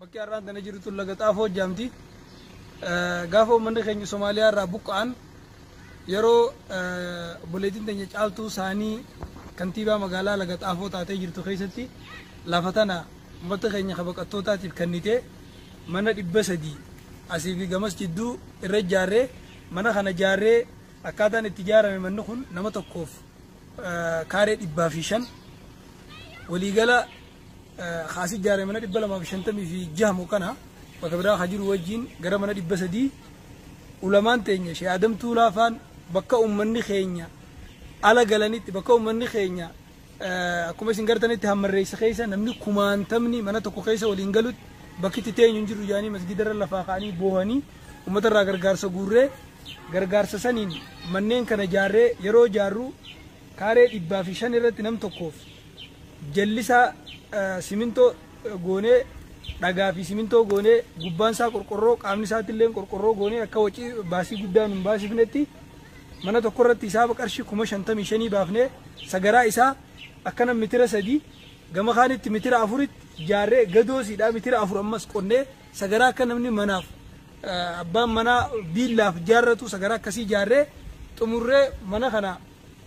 Bakki har'aan tana jirtu laga xaafoo hojjaamti. Gaafa uummanni keenya Somaaliyaa irraa buqqa'an Yeroo obboleettiin teenya Caaltuu Saanii Kantiibaa Magaalaa Laga Xaafoo taatee jirtu keessatti lafa tana ummata keenya ka baqattootaatiif kennitee mana 300 asii fi gamas jidduu irra ijaarree mana kana ijaarree akkaataan itti ijaarame manni kun nama tokkoof kaaree 105 waliigala kaasii ijaare mana dhibba lamaa fi shantamii fi jaha mukkana bakka biraa haa jiru wajjin gara mana dhibba sadii ulamaan teenya shee Adam Tuulaa faan bakka uummanni keenya ala galanitti bakka uummanni keenya akkuma isin gartanitti hammarreessa keessa namni kumaantamni mana tokko keessa waliin galutti bakkitti teenyu hin jiru jaanii masgidarra lafaa ka'anii boohanii uummatarraa gargaarsa guurree gargaarsa saniin manneen kana jaarree yeroo jaarru kaaree dhibbaa fi shan irratti nam tokkoof jallisaa simintoo goonee dhagaa fi simintoo goonee gubbaan isaa qorqorroo qaamni isaatti illee qorqorroo goonee akka wacii baasii guddaa nun baasifnetti mana tokko irratti hisaaba qarshii kuma shantamii shanii baafnee sagaraa isaa akkana mitira sadii gama kaanitti mitira afuritti jaarree gadoosiidhaa mitira afur ammas qonnee sagaraa akka namni manaaf abbaan manaa biillaaf jaarratu sagaraa akkasii jaarree xumurree mana kana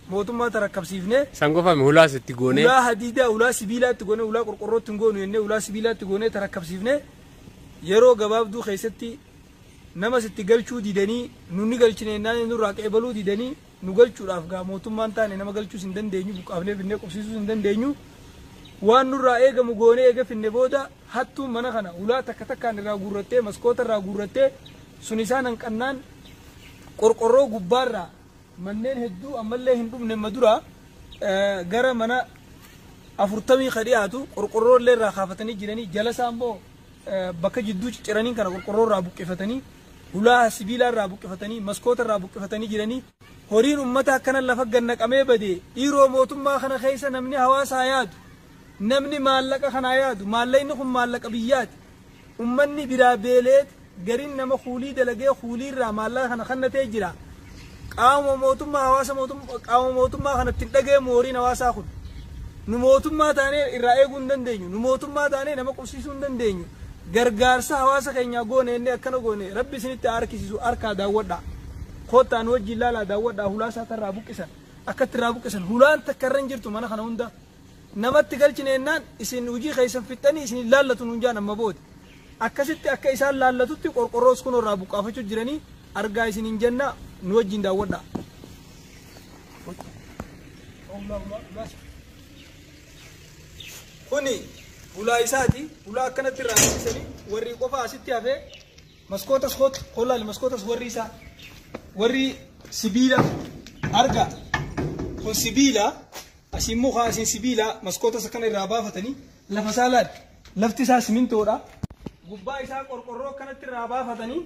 mootummaa tarakkabsiifnee Sangofame hulaas itti goonee. ulaa hadiidaa ulaa sibiilaatti goonee ulaa qorqorrootti hin goonu jennee ulaa sibiilaatti goonee tarakkabsiifnee yeroo gabaabduu keessatti namas itti galchuu didanii nu ni galchine jennaan nurraa qeebaluu didanii nu galchuudhaaf gaa mootummaan taane nama galchuus hin dandeenyu buqqaafnee finnee qubsiisuus hin dandeenyu waan nurraa eegamu goonee eega finne booda hattuun mana kana ulaa takka takkaan irraa guurrattee maskoota irraa guurrattee sun isaan hanqannaan qorqorroo gubbaarraa Manneen hedduu ammallee hin dhumne ma dura gara mana afurtamii ka dhiyaatu qorqorroo illee irraa kaafatanii jiranii jala isaa immoo bakka jidduu cicciraniin kana qorqorroo irraa buqqifatanii hulaa sibiilaa irraa buqqifatanii maskoota irraa buqqifatanii jiranii horiin ummata akkana lafa gannaqamee badee dhiiroo mootummaa kana keessa namni hawaasaa yaadu namni maallaqa kanaa yaadu maallaqni kun maallaqa biyyaati Ummanni biraa beeleet gariin nama kuulii dalagee kuulii irraa maallaqa kana kannatee jira. Qaama mootummaa hawaasa mootummaa qaama mootummaa kanatti hin dhagahamu horiin hawaasaa kun. Nu mootummaa taanee irraa eeguu hin dandeenyu. Nu mootummaa taanee nama qubsiisuu hin dandeenyu. Gargaarsa hawaasa keenyaa goone inni akkana goone rabbi isinitti haa harkisiisu harkaa daawwadhaa. Koottaa nu wajjin ilaalaa daawwadhaa hulaasaa irraa buqqisan. Akkatti irraa buqqisan hulaan takka irra hin jirtu mana kana hunda. namatti galchine jennaan isin hujii keessan fixxanii isin hin laallatu nuun jaan amma booda akkasitti akka isaan laallatutti qorqorroos kunoo irraa buqqaafachuu jiranii argaa isin hin janna nu wajjin daawwadha. Kuni hulaa isaati hulaa akkanatti irraa hambisanii warri qofa asitti hafee maskootas kootu kollaali maskootas warri isaa warri sibiila argaa kun sibiila. Asii immoo kaa isin sibiila maskoota isa kana irraa baafatanii lafa isaa laal. Lafti isaa simintoodha. Gubbaa isaa qorqorroo akkanatti irraa baafatanii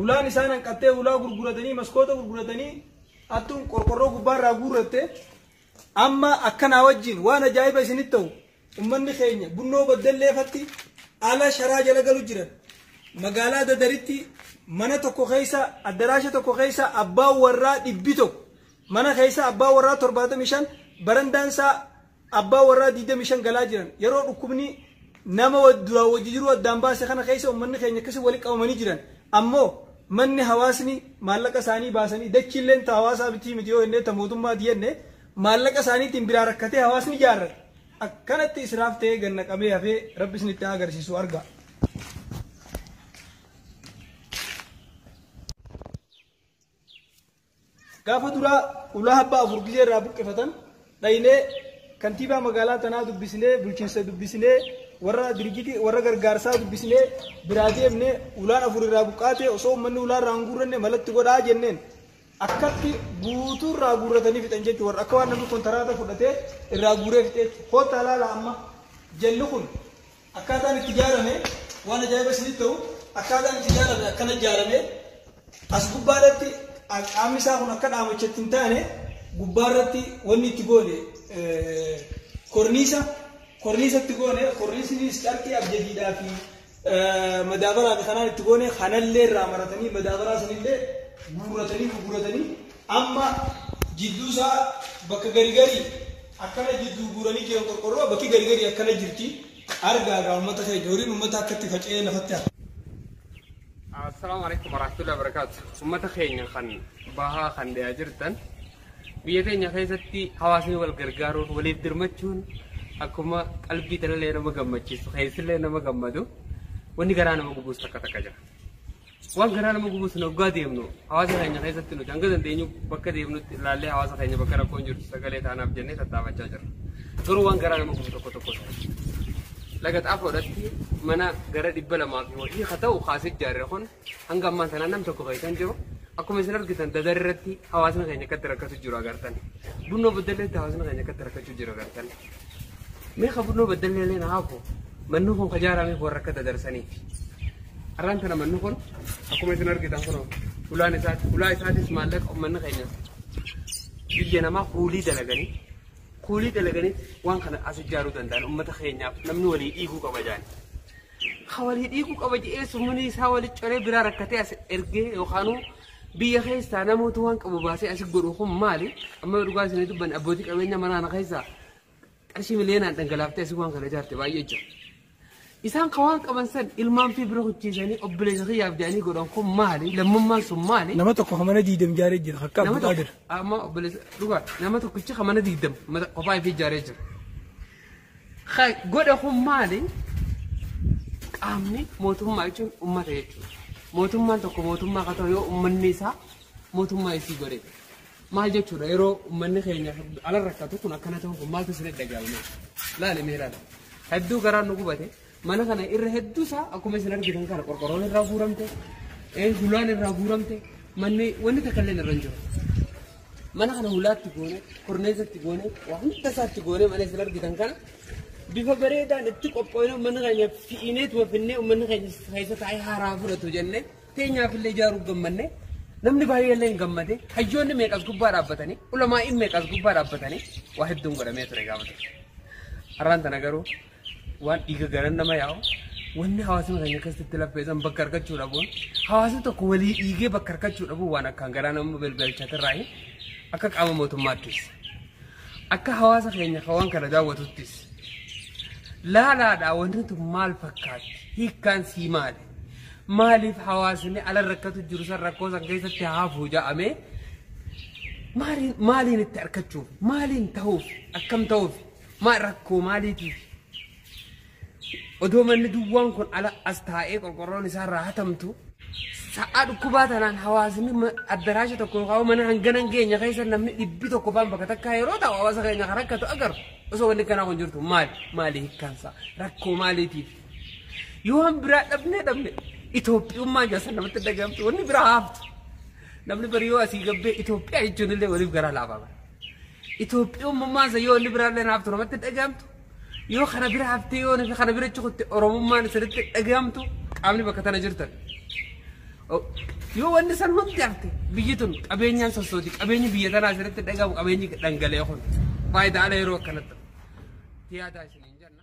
ulaan isaan hanqattee ulaa gurguratanii maskoota gurguratanii attuun qorqorroo gubbaa irraa guurratte amma akkanaa wajjin waan ajaa'iba isinitti ta'u ummanni keenya bunnoo baddelleefatti ala sharaa jala galu jiran magaalaa dadaritti mana tokko keessa addaraasha tokko keessa abbaan warraa dhibbi tokko Mana keessa abbaa warraa 75, barandaan isaa abbaa warraa 25 galaa jiran. Yeroo dhukkubni nama duraan wajji jiruu addaan baase kana keessa ummanni keenya akkasi wali qabamanii jiran. Ammoo manni hawaasni maallaqa isaanii baasanii dachiilleen ta hawaasaa mitii miti yoo jennee ta mootummaati jenne maallaqa isaaniitiin biraa rakkatee hawaasni ijaarrate. Akkanatti israaf ta'ee gad naqamee hafee rabbi isinitti haa agarsiisu argaa. Gaafa duraa ulaa habbaa afur gizee irraa buqqifatan dhaynee kantiibaa magaalaa tanaa dubbisnee bulchiinsa dubbisnee warra dirijjitii warra gargaarsaa dubbisnee biraa deemne ulaan afur irraa buqqaate osoo uummanni ulaa irraa hin guurranne malatti godhaa jenneen akkatti guutuu irraa guurratanii fixan jechuun warra akka waan namni kontaraata fudhatee irraa guuree fixeetti koottaa laala amma jalli kun Akkaataan itti ijaarame waan ajaa'iba isinitti ta'u akkaataan itti ijaarame akkana ijaarame as gubbaa irratti qaamni isaa kun akka dhaamachatti hin taane gubbaa irratti wanni itti goone korniisa korniisa itti goone korniisnis carqii abjadiidhaa fi madaabaraa fi kanaan itti goone kanallee irraa maratanii madaabaraa sanillee guurratanii gurguratanii Amma jidduu isaa bakka gari gari akkana jidduu guuranii jiran qorqorroo bakki gari gari akkana jirti argaa gaa uummata keenya horiin uummata akka itti faca'ee lafatti hafa. Assalaamu alaikum warahmatullahi wabarakaatu. Uummata keenya kan bahaa kan dhiyaa jirtan biyya teenya keessatti hawaasni wal gargaaruun waliif dirmachuun akkuma qalbii talallee nama gammachiisu keessillee nama gammadu wanni garaa nama gubuus takka takka jira. Waan garaa nama gubuus hoggaa deemnu hawaasa keenya keessatti nuti hanga dandeenyu bakka deemnutti ilaallee hawaasa keenya bakka rakkoon jirtu sagalee taanaaf jennee tattaafachaa jirra. Garuu waan garaa nama gubu tokko tokko laga xaafoodhatti mana gara dhibba lamaa fi wayii haa ta'u kaasee ijaarre kun hanga ammaan sanaa nam tokko keessa hin jiru. Akkuma isin argitan dadar irratti hawaasni keenya akkatti rakkatu jiru agartan. Bunnoo boddalleetti hawaasni keenya akkatti rakkachuu jiru agartan. Mee ka furnoo baddallee illee na haafu manni kun ka jaarameef warra akka dadarsanii. Har'aan tana manni kun akkuma isin argitan kunoo hulaan isaati. Hulaa isaatis maallaqa uummanni keenya biyya namaa kuulii dalaganii kuulii dalaganii waan kana as ijaaruu danda'an uummata keenyaaf namni walii dhiiguu qaba jaani. Ka walii dhiiguu qaba jedhee summunii isaa walii coree biraa rakkatee as ergee yookaanuu Biyya keessaa namoota waan qabu baasee asi godhu kun maali? Amma yoo dhugaa isinii dubbanne abbootii qabeenya mana kana keessaa qarshii miliyoonaan dhangalaaftee asi waan kana ijaarte baay'ee jira. Isaan kan waan qaban san ilmaan fi bira hojjeesanii obboleessa kiyyaaf jedhanii godhan kun maali? Lammummaan sun maali? Nama tokko hamana diidam jaaree jira akka Nama abbaa tokko jira. amma obboleessa dhugaa nama tokkicha kan mana diigdam kophaa fi ijaaree jira. Ka godhe kun maali? Qaamni mootummaa jechuun uummata jechuudha. Mootummaan tokko mootummaa akka ta'u yoo uummanni isaa mootummaa isii godhe. Maal jechuudha yeroo uummanni keenya ala rakkatu kun akkana ta'u kun maaltu isin dhaga'ama? Laali mee laala. Hedduu garaan nu gubate Mana kana irra hedduu isaa akkuma isin argitan kana qorqorroon irraa guuramte, hulaan irraa guuramte, manni wanni takka illee irra hin jiru. Mana kana hulaatti goone, korneesatti goone, waa hunda isaatti goone mana isin argitan kana bifa bareedaan itti qophoofne mana keenya fiinee tuwafinnee uummanni keenya keessa taa'ee haaraa fudhatu jennee teenyaaf illee ijaaruu gammanne. Namni baay'ee illee hin gammade. Hayyoonni meeqas gubbaa dhaabbatanii, ulamaa'iin meeqas gubbaa dhaabbatanii waa hedduun godhamee ture gaafata. Har'aan tana garuu waan dhiiga garan nama yaa'u wanni hawaasuma keenya keessatti laffeessan bakka argachuu dhabuun hawaasni tokko walii dhiigee bakka argachuu dhabuun waan akkaan garaa nama belbelchatirraa akka qaama mootummaattis akka hawaasa keenya kan waan kana daawwatuttis laalaadhaa wanti tun maal fakkaatti hiikkaan sii maali maaliif hawaasni ala rakkatu jiru san rakkoo san keessatti haafuu ja'amee maaliin maaliin itti argachuuf maaliin ta'uuf akkam ta'uuf Ma rakkoo maaliitiif? Odoo manni duwwaan kun ala as taa'ee qorqorroon isaa irraa hatamtu sa'aa dhukkubaa tanaan hawaasni ma- addaraasha tokko yookaan mana hangana hin geenye keessa namni dhibbi tokko faan bakka takkaa yeroo ta'u hawaasa keenya kan rakkatu agarru osoo wanni kanaa kun jirtu maali maali hiikkaansa rakkoo maaliitiif yoo waan biraa dhabnee dhabne Itoophiyummaa jaasa namatti dhagahamtu wanni biraa haaftu namni bari yoo asii gabbee Itoophiyaa jechuun illee waliif garaa laafaa bara. Itoophiyummummaan isa yoo inni biraallee naaf turamatti dhagahamtu yoo kana bira haftee yoo nufi kana bira cikutti Oromummaan isinitti dhagahamtu qaamni bakka tana jirtan. Yoo wanni san hundi hafte biyyi tun qabeenyaan sossooti qabeenyi biyya tanaa isinitti dhagahamu qabeenyi dhangala'e kun faayidaa ala yeroo akkanatti. Tiyaataa isiniin jenna.